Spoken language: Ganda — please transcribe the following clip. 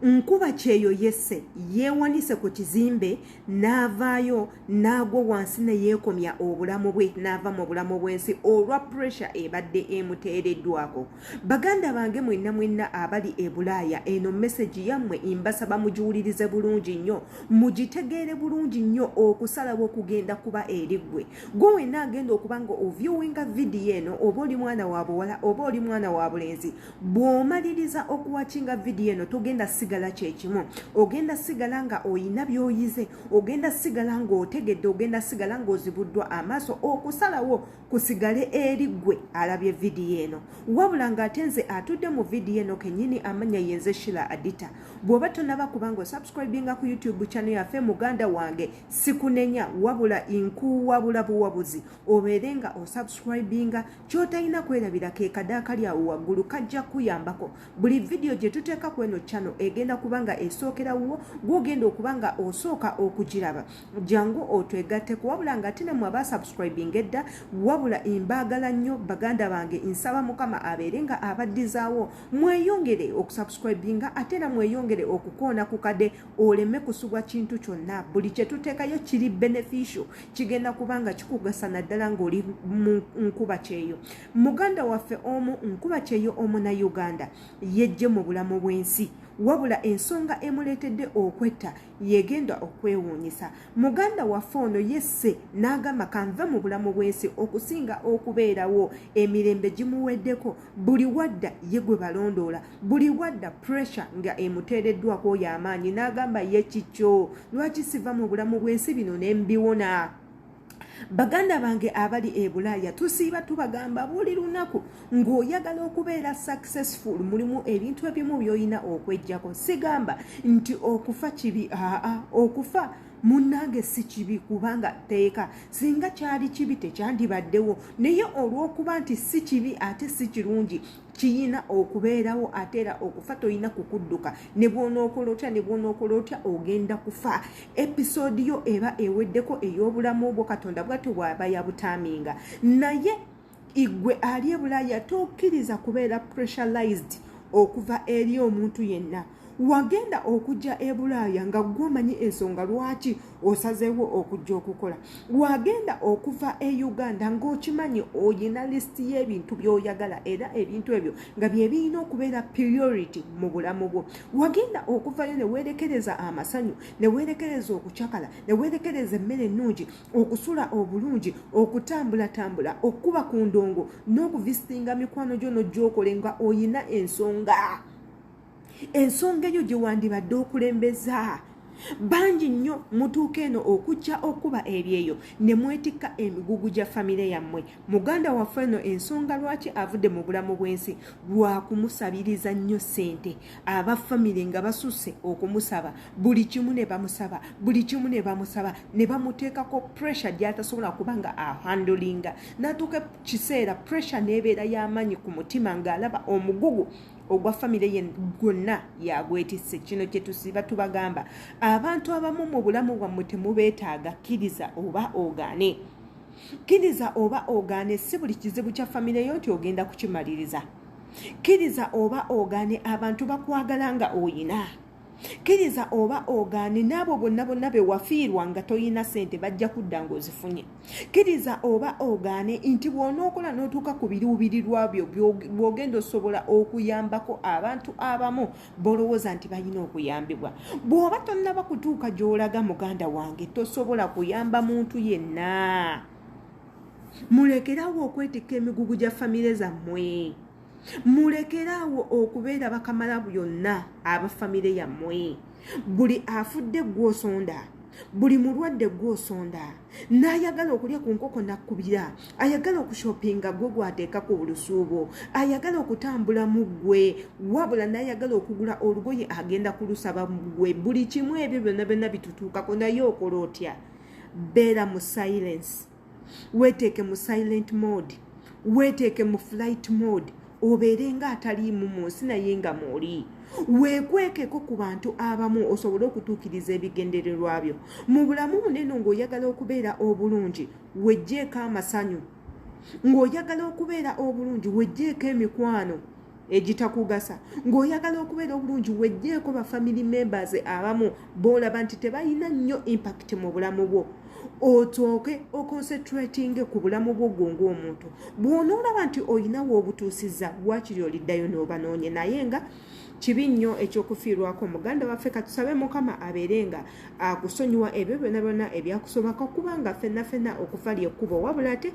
nkuba kyeyo yese yewanise ku kizimbe n'avaayo n'agwa wansi ne yeekomya obulamu bwe n'ava mu bulamu bw'ensi olwa puresha ebadde emuteereddwako baganda bange mwenna mwenna abali e bulaaya eno mesegi yammwe mbasaba mugiwulirize bulungi nnyo mugitegeere bulungi nnyo okusalawo okugenda kuba eri ggwe gwe wenna agenda okuba nga ovyuwinga vidiyo eno oba oli mwana wa buwala oba oli mwana wa bulenzi bw'omaliriza okuwakinga vidiyo eno togenda sigala kyekimu ogenda sigala nga oyina by'oyize ogenda sigala ng'otegedde ogenda sigala ng'ozibuddwa amaaso okusalawo kusigale eri gwe alabye vidiyo eno wabula ng'ate nze atudde mu vidiyo eno kenyini amanya yenze shila adita bw'oba tonaba kubanga osubscribinga ku youtube chano yaffe muganda wange sikunenya wabula inkuwabula buwabuzi obeere nga osubscribinga Kyotalina kwerabira ke kadaakali awo waggulu kajja kuyambako. Buli vidiyo gye tuteeka ku eno channel egenda kuba nga esookera wuwo gw'ogenda okuba nga osooka okugiraba. Jangu otwegatteko wabula nga ate nemwe abaasubscribinga edda wabula mbaagala nnyo baganda bange nsaba Mukama abeere nga abaddizaawo mweyongere okusubscribinga ate era mweyongere okukoona ku kade oleme kusubwa kintu kyonna. Buli kye tuteekayo kiri beneficial kigenda kuba nga kikugasa naddala ng'oli mu nkuba kyeyo muganda waffe omu nkuba kyeyo omu na uganda yejje mu bulamu bw'ensi wabula ensonga emuleetedde okwetta yegenda okwewuunyisa muganda waffe ono yesse n'agamba kanve mu bulamu bw'ensi okusinga okubeerawo emirembe gimuweddeko buli wadda ye gwe balondoola buli wadda pressure nga emuteereddwako oyo amaanyi n'agamba ye kikyo lwaki siva mu bulamu bw'ensi bino ne mbiwona baganda bange abali e bulaaya tusiiba tubagamba buli lunaku ng'oyagala okubeera successful mulimu ebintu ebimu by'olina okwejjako sigamba nti okufa kibi aa okufa munnange si kibi kubanga tteeka singa kyali kibi tekyandibaddewo naye olw'okuba nti si kibi ate si kirungi kiyina okubeerawo ate era okufa tolina kukudduka ne bwonookola otya ne bwonookola otya ogenda kufa episoodi yo eba eweddeko ey'obulamu bwo katonda bwati bwaba yabutaaminga naye igwe ali ebulaaya tokkiriza kubeera pressurized okuva eri omuntu yenna wagenda okujja e bulaaya nga gwe omanyi ensonga lwaki osazeewo okujja okukola wagenda okuva e uganda ng'okimanyi oyina lisiti y'ebintu by'oyagala era ebintu ebyo nga bye birina okubeera priority mu bulamu bwo wagenda okuvayo ne weerekereza amasanyu ne weerekereza okucakala ne weerekereza emmere ennungi okusula obulungi okutambulatambula okukuba ku ndongo n'okuvisitinga mikwano gyo n'ojja okole nga oyina ensonga ensonga eyo gye wandibadde okulembeza bangi nnyo mutuuka eno okujja okuba ebyeyo ne mwetikka emigugu gya famire yammwe muganda waffe eno ensonga lwaki avudde mu bulamu bw'ensi lwa kumusabiriza nnyo ssente aba famire nga basusse okumusaba buli kimu ne bamusaba buli kimu ne bamusaba ne bamuteekako pressure gy'atasobola kuba nga ahandolinga n'atuuka kiseera pressure n'ebeera y'amaanyi ku mutima ng'alaba omugugu ogwa famire ye gwonna yagwetisse kino kyetusiba tubagamba abantu abamu mu bulamu bwammwe temubeetaaga kkiriza oba ogaane kkiriza oba ogaane si buli kizibu kya famire yo nti ogenda kukimaliriza kkiriza oba ogaane abantu bakwagala nga oyina kkiriza oba ogaane n'abo bonna bonna be wafiirwa nga tolina ssente bajja kudda ng'ozifunye kkiriza oba ogaane nti bw'onookola n'otuuka ku biruubirirwa byo bw'ogenda osobola okuyambako abantu abamu b'olowooza nti balina okuyambibwa bw'oba tonnaba kutuuka gy'olaga muganda wange tosobola kuyamba muntu yenna mulekerawo okwetikka emigugu gya famire zammwe mulekere awo okubeera bakamala byonna abafamire yammwe buli afudde gwosonda buli mulwadde gwosonda n'ayagala okulya ku nkoko nakkubira ayagala okushopinga gwe gwateeka ku bulusuubo ayagala okutambula mu ggwe wabula n'ayagala okugula olugoye agenda kulusaba mu ggwe buli kimu ebyo byonna byonna bitutuukako naye okola otya beera mu silence weteeke mu silent mode weteeke mu flight mode obeere nga ataliimu mu nsi naye nga mwoli weekwekeko ku bantu abamu osobole okutuukiriza ebigendererwa byo mu bulamu buneno ng'oyagala okubeera obulungi wejjeeko amasanyu ng'oyagala okubeera obulungi wejjeeko emikwano egitakugasa ng'oyagala okubeera obulungi wejjeeko ba family members abamu boolaba nti tebalina nnyo impact mu bulamu bwo otooke oconcentratinge ku bulamu bwo gwo ng'omuntu bw'onoolaba nti olinawo obutuusiza waakiri oliddayo n'obanoonye naye nga kibi nnyo ekyokufiirwako muganda waffe katusabe mukama abeere nga akusonyiwa ebyo byona byona ebyakusobako kubanga fenna fenna okufa lyekkubo wabula ate